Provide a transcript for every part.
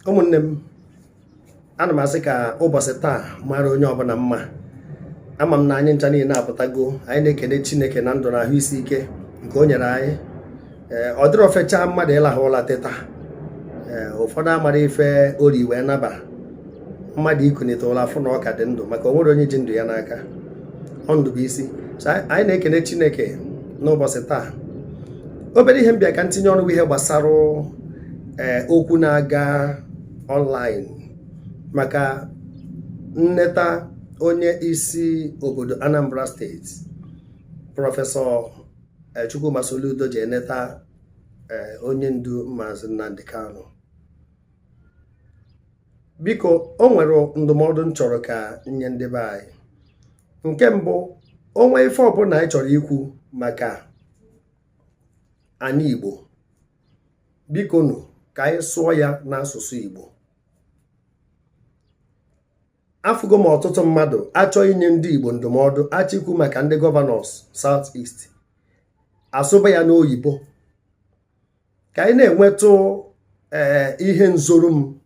ụmụnne m ana m asị ka ụbọchị taa mara onye ọbụla mma ama m na anyị ncha niile apụtago anyị na-ekene chineke na ndụ na ahụ isi ike nke o nyere anyị ee ọ dịrọ fechaa mmadụ ịlahụ ụla teta ee ụfọdụ amara ife o ri wee naba mmadụ ikunite ụla fụ na ọ ka dị ndụ maka o nwere onye ji ndụ ya n'aka ọ ndụ bụ isi so anyị anyị na-ekene chineke n'ụbọchị taa obere ihe m bịa ka ntinye ọnụ bụ ihe gbasara ee eh, okwu na-aga online maka nneta onye isi obodo Anambra steeti prọfesọ eh, Chukwuma Soludo ji eneta eh, onye ndu Maazị Nnamdi Kanu biko o nwere ndụmọdụ m chọrọ ka m nye ndị be anyị nke mbụ o nwee ife ọbụla anyị chọrọ ikwu maka anị Igbo bikonu ka anyị sụọ ya n'asụsụ Igbo afụgo m ọtụtụ mmadụ a chọọ inye ndị Igbo ndụmọdụ a chọọ ikwu maka ndị gọvanọs South East a sụba ya n'oyibo ka anyị na-enwetụ ee eh, ihe nzoru m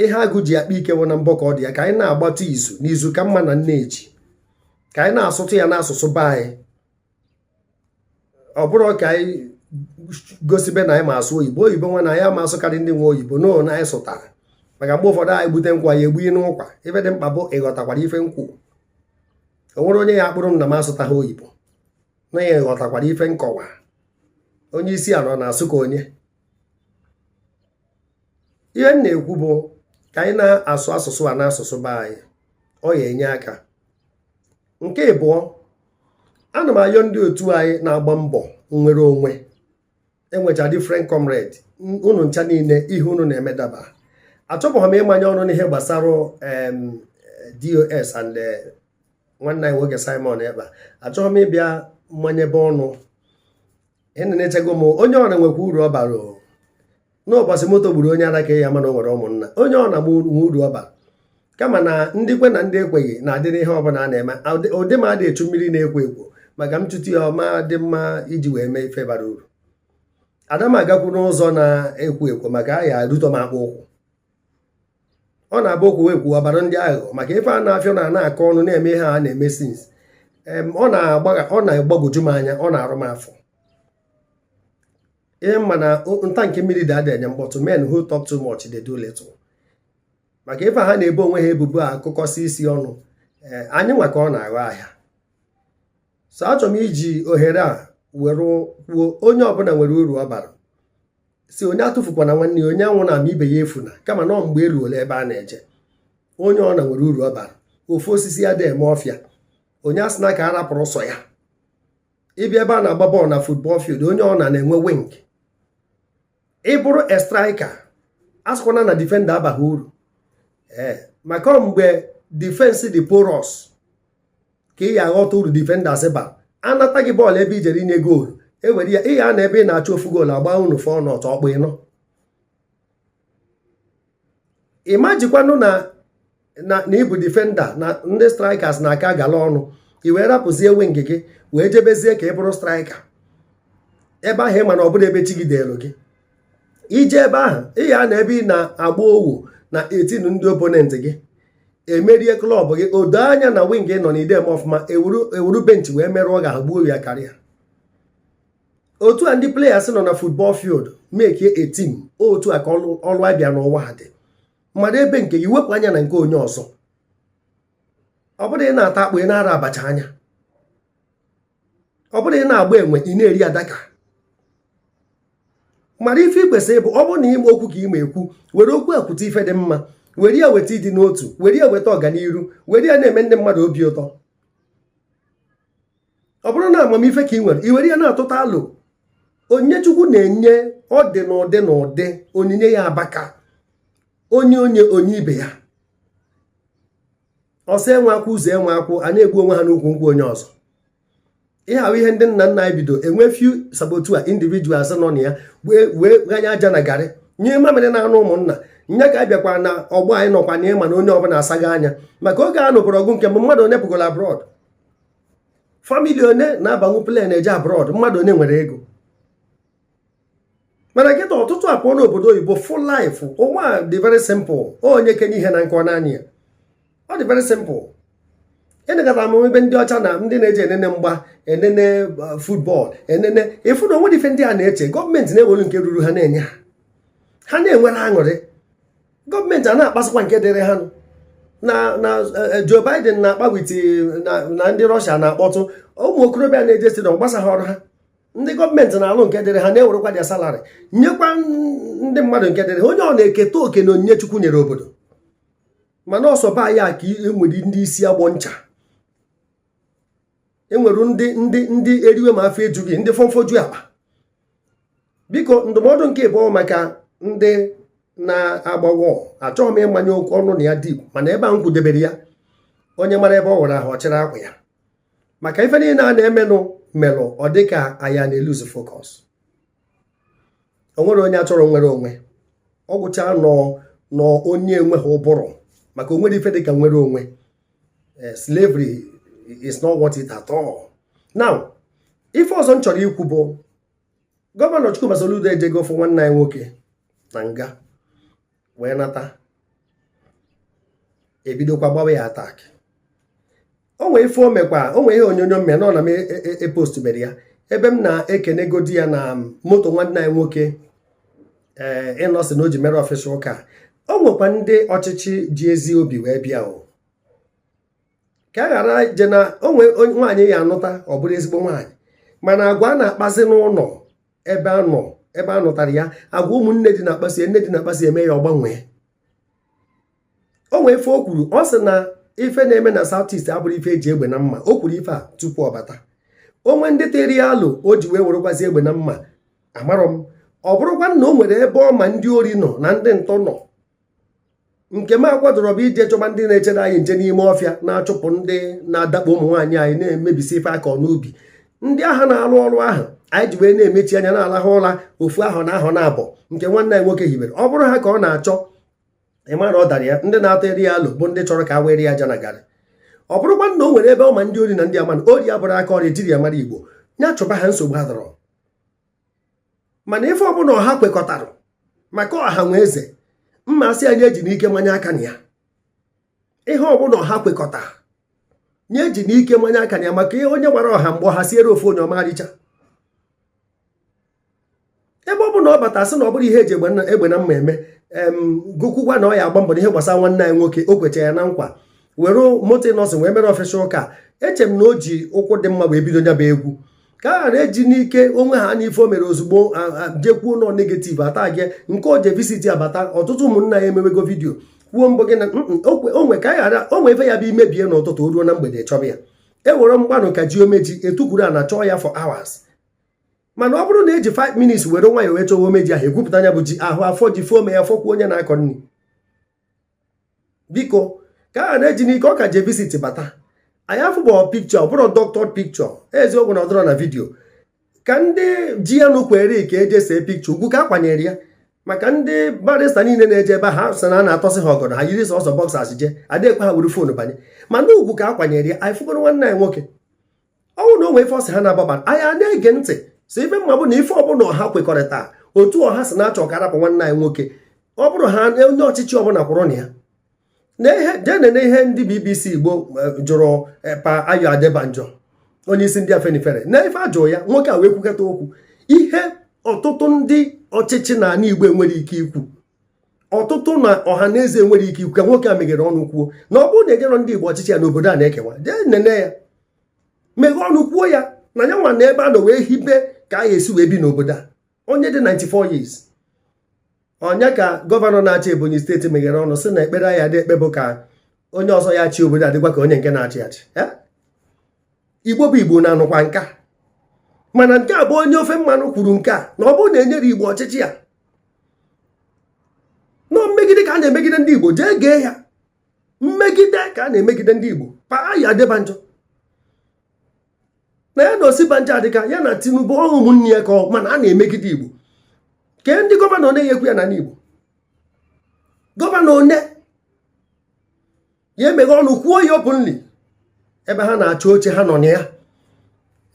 ihe agụ ji akpa ike wụ na mbọ ka ọ dị ya ka anyị na-agbatụ izu na izu ka mma na nneji ka anyị na-asụtụ ya n'asụsụ be anyị ọ bụrọ ka anyị gosibe na anyị ma asụ oyibo oyibo nwa na anyị ama asụkarị ndị nwe oyibo no na anyị sụtara maka mgbe ụfọdụ anyị gbute nkwa ya egbughị n'ụkwa ife dị mkpa bụ ị ghọtakwara ife m kwu o nwere onye ya-akparị m na m asụtaghị oyibo na ya ị ghọtakwara ife nkọwa onye isi ala na-asụ ka onye ihe m na-ekwu bụ ka anyị na-asụ asụsụ a n'asụsụ be anyị ọ ya-enye aka nke ịbụọ ana m ayọ ndị otu anyị na-agba mbọ nnwere onwe e nwecha different comrade unu ncha niile ihe unu na-eme daba achọbụghị m ịmanye ọnụ n'ihe gbasara DOS and eh, nwanne anyị nwoke simon ekpa achọghị m ịbịa manyebe ọnụ enenechego m onye ọna nwekwa uru ọ bara n'ụbọchị moto gburu onye ala ka a ya-ama na o nwere ụmụnna onye ọna nwe uru ọ bara kama na ndị kwe na ndị ekweghị na-adịrị ihe ọbụla a na-eme ụdị m adị echu mmiri na-ekwo ekwo maka m chute ya ọ ma-adị mma iji wee mee ife bara uru ada m agakwu n'ụzọ na-ekwo ekwo maka a ya arụtọ m akpụ ụkwụ ọ na-abụ okwu e kwu ọ baara ndị ahụ maka ife a na-afịọ na na-akọ ọnụ na-eme ihe a na-eme since ọ na-agbagwoju m anya ọ na-arụ m afọ ịma na tank mmiri dị ada enye mkpọtụ men who talk too much they do little maka ife ha na-ebo onwe ha ebubo a akụkọsị isi ọnụ eh, anyị nwa ka ọ na-aghọ ahịa so achọrọ m iji ohere a were kwuo onye ọbụla nwere uru ọ bara si onye atụfukwana nwanne ya onye anwụna ma ibe ya efuna kama na ọ mgbe eruola ebe a na-eje onye ọ na nwere uru ọ bara ofu osisi adị eme ọfịa onye asịna ka a rapụrụ sọ ya ịbịa ebe a na-agba bọọlụ na football field onye ọ na na-enwe wing ị bụrụ a striker asịkwana na defender abaghị uru ee maka ọ mgbe defense dị porous ka ị ya aghọta uru defenders ba anata gị bọọlụ ebe i jere inye goolu ewere ya ị ya anọ ebe ị na-achọ ofu goolu agba unu four nought ọkpụ ịnọ ị majikwanụ na ị bụ defender na ndị strikers na-aka agala ọnụ i wee rapụzie wing gị wee jebezie ka ị bụrụ striker ebe ahụ ị ma na ọ bụrọ ebe chi gị deelu gị i je ebe ahụ ị ya anọ ebe ị na-agba owu na eighteen ndị opponent gị emerie club gị o doo anya na wing ị nọ na idem ọfụma ewuru bench wee merụọ ga-agbuo ya karịa otu a ndị players nọ na football field make a team otu a ka ọlụ abịa n'ụwa ha dị mara ebe nke gị wepụ anya na nke onye ọzọ ọ bụrọ ị na-ata akpụ ị na-arọ abacha anya ọ bụrọ ị na-agba enwe ị na-eri adaka mara ife ị kwesịrị ịbụ ọ bụrụ na ịma okwu ka ị ma ekwu were okwu ekwute ife dị mma were ya weta ịdị n'otu were ya weta ọganiru were ya na-eme ndị mmadụ obi ụtọ ọ bụrụ na amamife ka ị nwere i were ya na-atụta alo onyinye Chukwu na-enye ọ dị n'ụdị n'ụdị onyinye ya abaka onye onye onye ibe ya ọsa enwe akwụ uze enwe akwụ ha na-egbu onwe ha n'ukwu nkwụ onye ọzọ ihe ahụ ihe ndị nna nna anyị bido enwe few saboteur individuals nọ na ya wee wee ghanye aja na garị nyụọ mamịrị n'anụ ụmụnna nya ka a bịakwara na ọgbọ anyị nọkwa na ị ma na onye ọbụla asago anya maka oge a nụbụrụ ọgụ nke mbụ mmadụ one pụgoro abroad family one na-abanwu plane eje abroad mmadụ one nwere ego mana kịta ọtụtụ apụọ n'obodo oyibo fụ life ụwa dị very simple onye kenye ihe na nkọ naanị ya ọ dị very simple enegata m be ndị ọcha na ndị na-eje enene mgba enene uh, football enene ị fụ na o nwerọ ife ndị a na-eche gọọmenti na-ewelu nke ruru ha na-enye ha ha na-enwere aṅụrị gọọmenti a na-akpasịkwa nke dịrị ha nụ na na eh, Joe Biden na-akpa with eh, na ndị Russia na-akpọtụ ụmụ okorobịa na-eje stadium ọ gbasarọ ha ndị gọọmenti na-alụ nke dịrị ha na-ewerekwa their salary nyekwa ndị mmadụ nke dịrị ha onye ọ na eketa oke na onyinye Chukwu nyere obodo mana ọ sọ be anyị ka enwere ndị isi agbọ ncha enwere ndị ndị ndị eriwe ma afọ ejughị ndị fonfoju akpa biko ndụmọdụ nke ịbụọ maka ndị na-agbawa achọghị m ịmanye okwu ọnụ na ya deep mana ebe a m kwudebere ya onye mara ebe ọ wụrụ ahụ ọ chịrị akwa ya maka ife niile a na-emenụ melụ ọ dị ka anyị na-elose focus o nwerọ onye achọrọ nnwere onwe ọ gwụcha nọ nọ onye enweghị ụbụrụ maka o nwerọ ife dị ka nnwere onwe eh, slavery is not worth it at all now ife ọzọ m chọrọ ikwu bụ gọvanọ Chukwuma Soludo ejego ịfụ nwanne anyị nwoke na nga wee nata e bidokwa gbawa ya attack o nwee ife o mekwa o nwee ihe onyonyo m mee na ọ na m epostuberọ e, e, e ya ebe m na-ekenegodi ya na moto nwanne anyị nwoke ee eh, Innoson na o ji mere official car o nwekwa ndị ọchịchị ji ezi obi wee bịa o ka a ghara je na o nwee nwaanyị a ya-anụta ọ bụrụ ezigbo nwaanyị mana agwa a na-akpazi n'ụlọ ebe a nọ ebe a nụtara ya agwa ụmụnne di na-akpasi nne di na-akpasi ya emee ya ọ gbanwee o nwee ife o kwuru ọ sị na ife na-eme na South East abụrọ ife eji egbe na mma o kwuru ife a tupu ọ bata o nwee ndị tụrụ ya alo o ji wee werekwazi egbe na mma amarọ m ọ bụrụkwa na o nwere ebe ọ ma ndị ori nọ na ndị ntọ nọ nke m akwadorọ bụ ije chọba ndị na-echere anyị nche n'ime ọfịa na-achụpụ ndị na-adakpo ụmụ nwaanyị anyị na-emebisi ife a kọ n'ubi ndị ahụ na-arụ ọrụ ahụ anyị ji wee na-emechi anya na-alahụ ụra ofu awa na awa naabọ nke nwanne anyị nwoke hibere ọ bụrụ ha ka ọ na-achọ ị mara ọ dara ya ndị na-atụrụ ya alo bụ ndị chọrọ ka a wụrụ ya aja na garị ọ bụrụkwa na o nwere ebe ọ ma ndị ori nọ na ị ma na ori abụrọ aka ọrụ e jiri mara Igbo ya chụba ha nsogbu adịrọ mana ife ọbụla ọha kwekọtara maka ọha nwe eze m asị ya onye eji n'ike manye aka na ya ihe ọbụla ọha kwekọta onye eji n'ike manye aka na ya maka ihe onye gbara ọha mgbe ọha siere ofu onye ọ ma-ericha ebe ọ bụ na ọ bata sị na ọ bụrọ ihe eji egbe na mma eme kwukwaa na ọ ya-agba mbọ n'ihe gbasara nwanne anyị nwoke o kwecha ya na nkwa were moto Innoson wee mere official car eche m na o ji ụkwụ dị mma wee bido nya bụ egwu ka a ghara eji n'ike o nwee ha na ife o mere ozugbo jekwuo nọ negative attack nke o je visit abata ọtụtụ ụmụnna ya emewego vidiyo kwuo mbụ gị na onwe ka anyị ghara o nwee ife ya-abụ i mebie n'ụtụtụ o ruo na mgbede chọba ya e were mgbanụ kajie ome ji e tukwuru ana chọọ ya for hours mana ọ bụrụ na eji 5 minutes were nwayọ wee chọwa ome ji ahụ egwupụta nya bụ ji ahụ a fụ ji fụ ome ya fụkwuo onye na-akọ nri biko ka a na-eji n'ike ọ ka je visit bata anyị afụgo picture ọ bụrọ doctored picture eziokwu na ọ dịrọ na vidiyo ka ndị ji ya nụ kwere ka e je see picture ugwu ka akwanyere ya maka ndị barista niile na-eje ebe ha sị na a na-atọsị ha ọgọdọ ha yiri sọsọ boxers je adịghị ekwe ha were phone banye mana ugwu ka akwanyere ya anyị fụgoro nwanne anyị nwoke ọ bụrụ na o nwee ife ọsị ha na-agbaba anyị na-ege ntị so ife m ma bụ na ife ọbụla ọha kwekọrịta otu ọha si na-achọ ka arapụ nwanne anyị nwoke ọ bụrụ ha onye ọchịchị ọbụla kwụrụ na ya jee nene ihe ndị bbc igbo eh, jụrụ eh, pa ayo adebanjo onye isi ndị afenifere na ife ajụrụ ya nwoke a wee kwukọta okwu ihe ọtụtụ ndị ọchịchị na ala igbo enwere ike ikwu ọtụtụ na ọha na eze enwere ike ikwu ka nwoke a meghere ọnụ kwuo na ọ bụrụ na enyerọ ndị Igbo ọchịchị ya n'obodo a na-ekewa jee nene ya meghe ọnụ kwuo ya na ya nwa na ebe a nọ wee hibe ka a ga-esi wee bi n'obodo a onye dị 94 years onye ka gọvanọ na-achị Ebonyi steeti meghere ọnụ sị na ekpere ya dị ekpe bụ ka onye ọzọ ya-achị obodo a dịkwa ka onye nke na-achị achị igbo bụ igbo na-anụkwa nke a mana nke a bụ onye ofe mmanụ kwuru nke a na ọ bụrụ na enyerọ igbo ọchịchị ya na ọ mmegide ka a na-emegide ndị igbo jee gee ya mmegide ka a na-emegide ndị igbo pa ayo adebanjo na ya na osinbajo adịka ya na tinubu ọ bụ ụmụnne ya ka mana a na-emegide igbo kee ndị gọvanọ na-enyekwu ya na igbo gọvanọ one ya-emeghe ọnụ kwuo ya openly ebe ha na-achọ oche ha nọ na ya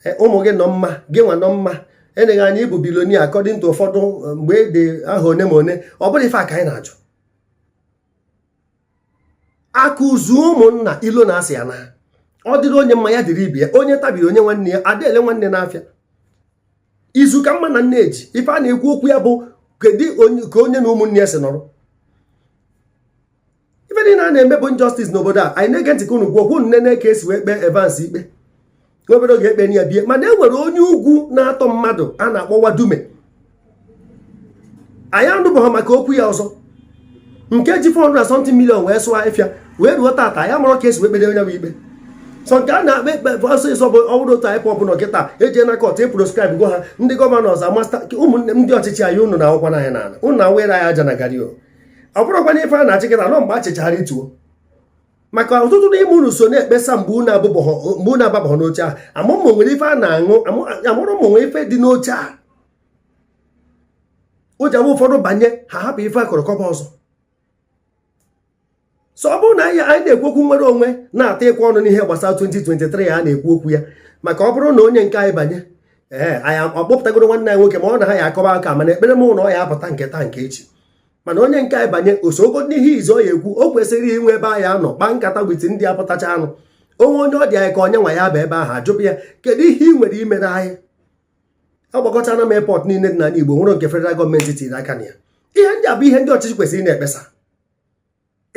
e, ụmụ gị nọ mma gị nwa nọ mma enee gị anya ị bụ bilonia according to ụfọdụ e, mgbe e dị aha one ma one ọ bụrụ ife a ka anyị na-ajụ akụ zuo ụmụnna ilo naa a sị ya na ọ dịrị onye mma ya dịrị ibe ya onye tabiri o nye nwanne ya adị ele nwanne n'afịa izu ka mma na nne eji ife a na-ekwu okwu ya bụ kedu ka onye na ụmụnne ya si nọrọ ife niile a na-eme bụ injustice n'obodo a anyị na-ege ntị ka unu kwuo okwu nene ka esi wee kpee Evans ikpe n'obodo ga-ekpe ya bie mana e nwere onye ugwu na-atọ mmadụ a na-akpọ Wadume anyị anụbụghị maka okwu ya ọzọ nke ji 400 something million wee zụọ afịa wee ruo tata anyị amarọ ka esi wee kpere onye ahụ ikpe sọ nke a na-ekpe ekpe ọsịsọ bụ ọbụrụ otu IPOB nọ kịta eje na kọt e proscribe go ha ndị gọvanọ ọzọ amasta ụmụnne ndị ọchịchị anyị unu na-akụkwa anyị n'ala unu na-awụnyere anyị aja na gari ọ bụrụkwa na ife a na-achị kịta nọ mgbe a chịchara ituo maka ọtụtụ n'ime unu so na-ekpesa mgbe unu ababọghọ n'oche ahụ amarọ m ma o nwere ife a na-aṅụ amarọ m ma o nwere ife dị n'oche a o ji abụ ụfọdụ banye ha hapụ ife a kọrọ kọba ọzọ so ọ bụrụ na anyị na-ekwu okwu nnwere onwe na-etikwa ọnụ n'ihe gbasara 2023 a na-ekwu okwu ya maka ọ bụrụ na onye nke anyị banye ee anyị akpọpụtagoro nwanne anyị nwoke ma ọ na ha ya akọba aka mana ekpere m na ọ ya-apụta nke taa nke echi mana onye nke anyị banye o sogo n'ihe izizi ọ ya-ekwu o kwesịrị inwe ebe anyị ya-anọ kpaa nkata with ndị a pụtacharanụ o nwee onye ọ dị anyị ka onye nwa ya-aba ebe ahụ a jụọ ya kedu ihe ị nwere imere anyị agbakọchana m airport niile dị n'ala Igbo nwere nke federal gọọmenti tiri aka na ya ihe ndị a bụ ihe ndị ọchịchị kwesịrị na-ekpesa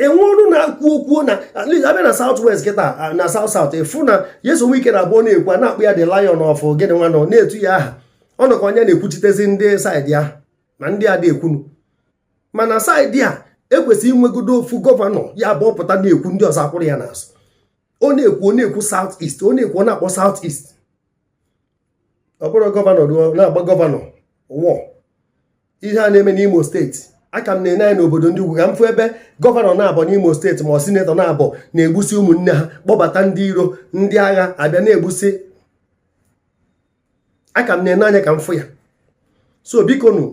enwe ọnụ na-ekwu okwu na abịa na South West kịta na South South ịfụ na Nyesom Wike na abụọ na-ekwu a na-akpọ ya the lion of gịnị nwa nọ na-etu ya aha ọ nọ ka onye na-ekwuchitezi ndị saịdị ya na ndị a adị ekwunu mana saịdị a e kwesịrị inwegodo ofu gọvanọ ya bụ ọ pụta na-ekwu ndị ọzọ akwụrụ ya n'azụ ọ na-ekwu ọ na-ekwu South East ọ na-ekwu ọ na-akpọ South East ọ bụrụ gọvanọ na-agba gọvanọ wọ ihe a na-eme n'Imo steeti a ka m na-ene anya n'obodo ndị ugwu ka m fụ ebe gọvanọ naabọ n'Imo steeti ma ọ sinetọ naabọ na-egbusi ụmụnne ha kpọbata ndị iro ndị agha abịa na-egbusi a ka m na-ene anya ka m fụ ya so biko nụ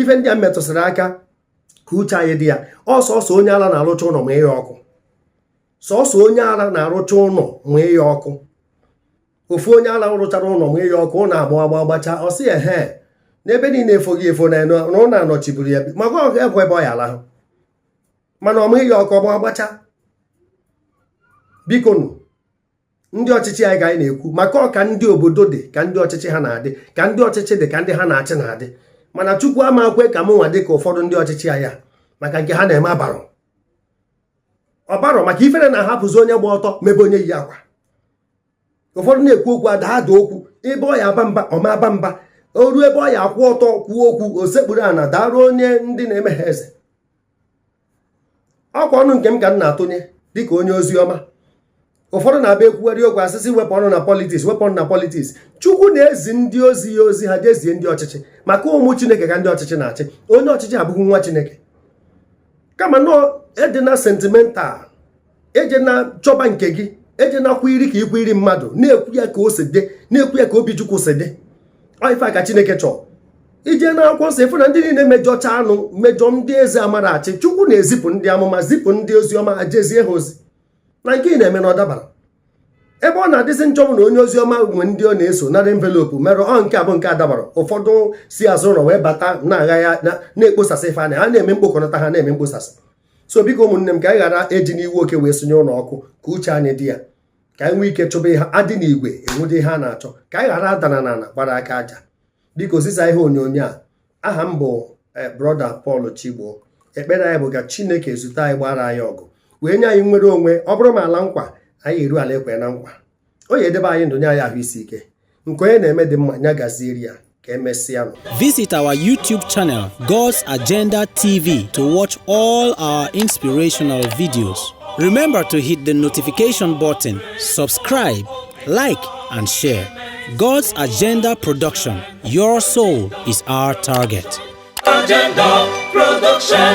ife ndị a m metụsịrị aka ka uche anyị dị ya ọ sọsọ onye ala na-arụcha ụlọ manye ya ọkụ sọsọ onye ala na-arụcha ụlọ manye ya ọkụ ofu onye ala rụchara ụlọ manye ya ọkụ ụlọ agba agba gbacha ọ sị ehe n'ebe niile efogo efo na ụlọ anọchiburu ya makwa ọ ga-ekwu ebe ọ ya alahụ mana ọ manye ya ọkụ ọ gba gbacha biko nụ ndị ọchịchị anyị ka anyị na-ekwu maka ọ ka ndị obodo dị ka ndị ọchịchị ha na-adị ka ndị ọchịchị dị ka ndị ha na-achị na-adị mana chukwu ama kwe ka m nwa dị ka ụfọdụ ndị ọchịchị anyị maka nke ha na-eme abarọ ọbarọ maka ifere na-ahapụzi onye gba ọtọ mebe onye yi akwa ụfọdụ na-ekwu okwu ada ada okwu ebe ọ ya aba mba ọ ma aba mba o ruo ebe ọ ya akwụ ọtọ kwuo okwu o sekpuru ana daruo onye ndị na-eme ha eze ọkwa ọnụ nke m ka m na-atụnye dịka onye ozi ọma ụfọdụ na-abịa ekwugharị okwu a sị sị wepụ ọnụ na politiks wepụ ọnụ na politiks chukwu na-ezi ndị ozi ya ozi ha jezie ndị ọchịchị maka ụmụ chineke ka ndị ọchịchị na-achị onye ọchịchị abụghị nwa chineke kama nọọ edina sentimental ejena chọba nke gị eje na kwa iri ka ikwu iri mmadụ na-ekwu ya ka o si dị na-ekwu ya ka obi chukwu si dị ife a ka chineke chọọ i je na akwụkwọ nsọ ịfụ na ndị niile mejọchanụ mejọ ndị eze amarọ achị chukwu na-ezipụ ndị amụma zipụ ndị ozi ọma ha jezie ha ozi na nke ị na-eme na ọ dabarọ ebe ọ na-adịzi njọ bụ na onye ozi ọma nwe ndị ọ na-eso nara envelopu merụọ nke abụ nke a dabara ụfọdụ si azụ ụlọ wee bata na-agha ya na-ekposasị ife anyị a na-eme mkpokọnata ha na-eme mkposasị so biko ụmụnne m ka anyị ghara ejina iwe oke wee sunye ụlọ ọkụ ka uche anyị dị ya ka anyị nwee ike chọba ihe a dị n'igwe enwete ihe a na-achọ ka anyị ghara adana na ala gbara aka aja biko zisa ihe onyonyo a aha m bụ eh, brọda Paul Chigbo ekpere anyị bụ ka Chineke zute anyị gbaara anyị ọgụ wee nye anyị nwere onwe ọ bụrụ ma ala nkwa anyị eru ala ekwe na nkwa ọ ya edebe anyị ndụ nye anyị ahụ isi ike nke onye na-eme dị mma nya gazieri ya ka emesịanụ Visit our YouTube channel, God's Agenda TV, to watch all our inspirational videos. Remember to hit the notification button, subscribe, like, and share. God's Agenda Production Your soul is our target. Agenda Production.